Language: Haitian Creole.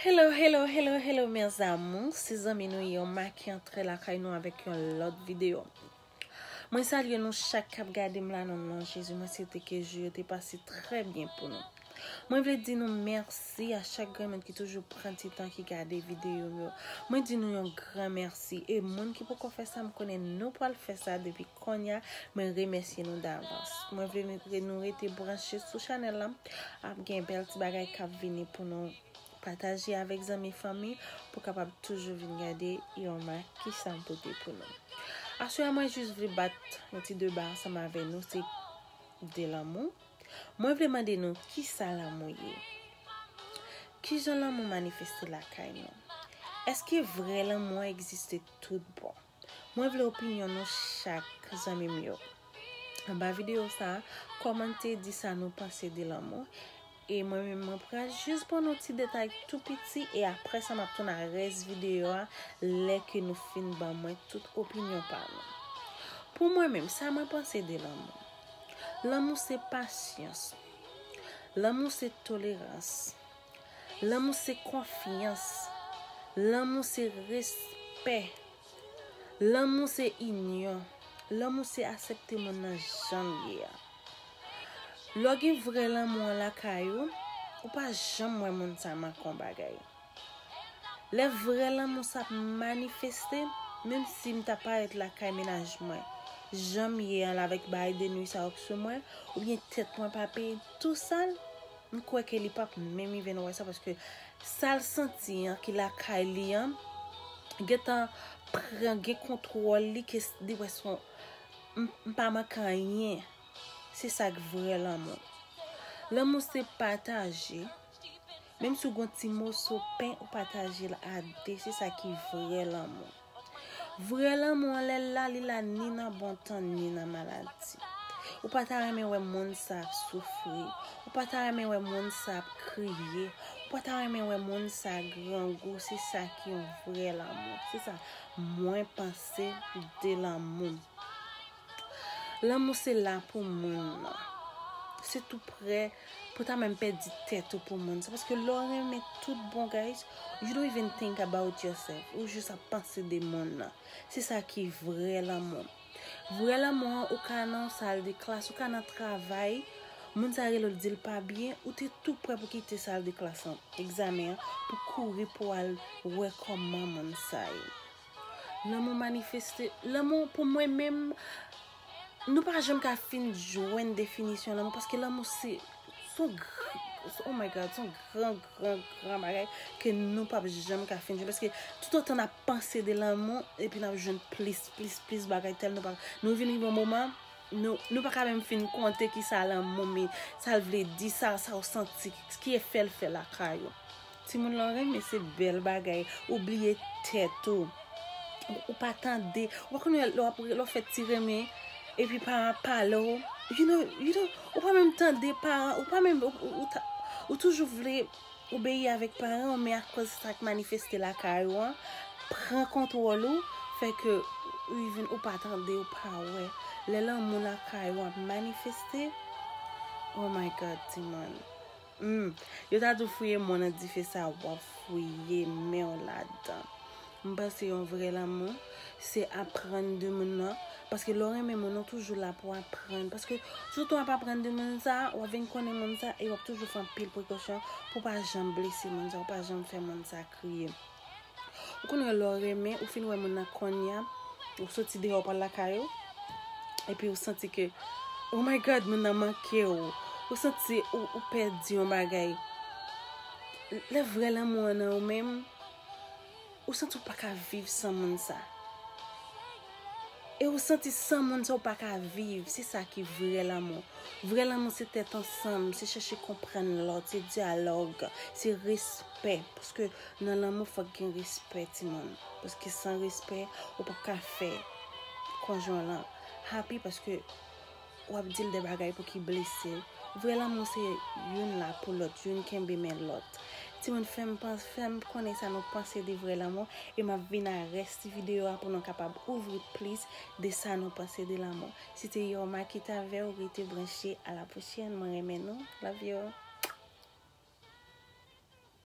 Hello hello hello hello mes amours se zanmi nou yo ma ki antre lakay nou avèk yon lòt video Mwen salye nou chak kap gade m la nan non Jezi mwen swete ke jou yo te pase trè byen pou nou Mwen vle di nou mèsi a chak grenn moun ki toujou pran ti tan ki gade video m yo Mwen di nou yon gran mèsi e moun ki poko fè sa m konnen nou pwal fè sa depi konnya mwen remèsye nou davans Mwen vle nou rete branche sou chanèl la Ap gen bèl ti bagay kap vini pou nou pataje avèk zanmi fanmi pou kapab toujou vin gade yon ma kisam pote pou nou. Aswè a mwen jis vle bat yon ti deba ansanm avè nou se de lanmou. Mwen vle mande nou kisa lanmou ye? Kijan lanmou manifeste lakay nou? Eske vrè lanmou an egziste tout bon? Mwen vle opinyon nou chak zanmi m yo. Anba videyo sa, kòmante di sa nou panse de lanmou. E mwen menm mwen pral jis ban nou ti detay tou piti e aprè sa m ap tounen ak rès videyo a lè ke nou fin ban mwen tout opinyon pa nou. Pou mwen menm, sa mwen panse de lanmou. Lanmou se pasyans. Lanmou se tolerans. Lanmou se konfyans. Lanmou se respè. Lanmou se inyon. Lanmou se asepte moun nan jan l ye a. Lè w gen vrè lanmou an lakay ou, ou pa janm wè moun sa manke yon bagay. Lè vrè lanmou sa ap manifeste, menm si m ta parèt lakay mennaj mwen, jan m ye an la avèk bagay de nuisans yo k sou mwen, oubyen tèt mwen pa peye tou sal, M kwè ke li pap menm rive nan wè sa paske sal santi an ki lakay li an gentan pran gen kontwòl li ke li wè son m pa manke anyen se sak vrè lanmou lanmou se pataje menm si w gon ti moso pen ou patajel a 2 se sa ki vrè lanmou. Vrè lanmou an lè l la li la ni nan bon tan ni nan maladi. Ou pa ta renmen wè moun sa ap soufri, ou pa ta renmen wè moun sa ap kriye, ou pa ta renmen wè moun sa grangou se sa ki yon vrè lanmou. Se sa mwen panse de lanmou. Lanmou se la pou moun nan. Se tou prè pou ta menm pèdi tèt ou pou moun. Se paske lè w renmen tout bon guys, you don't even think about yourself. Ou jis ap panse de moun nan. Se sa ki vrè lanmou. Vrè lanmou an, ou ka nan yon sal de klas, ou ka nan travay, moun sa rele w l di l pa byen, ou te tou prè pou kite sal de klas lan, egzamen an, pou kouri pou al wè kòman moun sa ye. Lanmou manifeste, lanmou pou mwen menm, nou pa jom ka fin jwen definisyon lanmou, paske lanmou se, son gran, oh my God, son gran, gran, gran bagay, ke nou pa jom ka fin jwen, paske tout otan na panse de lanmou, epi na jwen plis, plis, plis bagay, tel nou pa, nou vini yon moman, nou pa ka menm fin konte ki sa lanmou, mi, sa l vle di, sa, sa w santi, ki efè l fè lakay ou. Timoun lan renmen se bel bagay ou bliye tet ou ou pa tande ou pa konnen le wap le wap fe ti renmen epi paran ap pale w you know you know ou pa menm tande paran ou pa menm ou toujou vle obeyi avek paran w men akoz sak manifeste lakay ou an pran kontwol ou fe ke ou even ou pa tande ou pa we le lanmou lakay ou ap manifeste oh my God timoun. Humm yo ta di w fouye men w nan dife sa wap fouye men w ladan m panse yon vrè lanmou se aprann de moun nan paske lè w renmen moun ou toujou la pou aprann paske sou tan wap aprann de moun sa wap vin konnen moun sa e wap toujou fè anpil prekosyon pou pa janm blese moun sa ou pa janm fè moun sa kriye. Ou konn wè lè w renmen, ou fin wè moun nan konnya, ou soti deyò pral lakay ou, epi ou santi ke, oh my God, moun nan manke w, ou santi ou pèdi yon bagay. Lè vrè lanmou an nan ou menm, ou santi ou pa ka viv san moun sa. E ou santi san moun sa ou pa ka viv, se sa ki vrè lanmou. Vrè lanmou se tèt ansanm, se chèche konprann lòt, se dyalòg, se respè. Nan lanmou fòk gen respè timoun paske san respè ou pap ka fè konjwen w lan happy paske wap dil de bagay pou ki blese l vrè lanmou se youn la pou lòt youn kenbe men lòt timoun fèm panse fèm konnen sa nou panse de vrè lanmou e map vin a rès ti video a pou nou kapab ouvri plis de sa nou panse de lanmou se te Yorma ki t avè w rete branche a la pwochèn mwen renmen nou love you.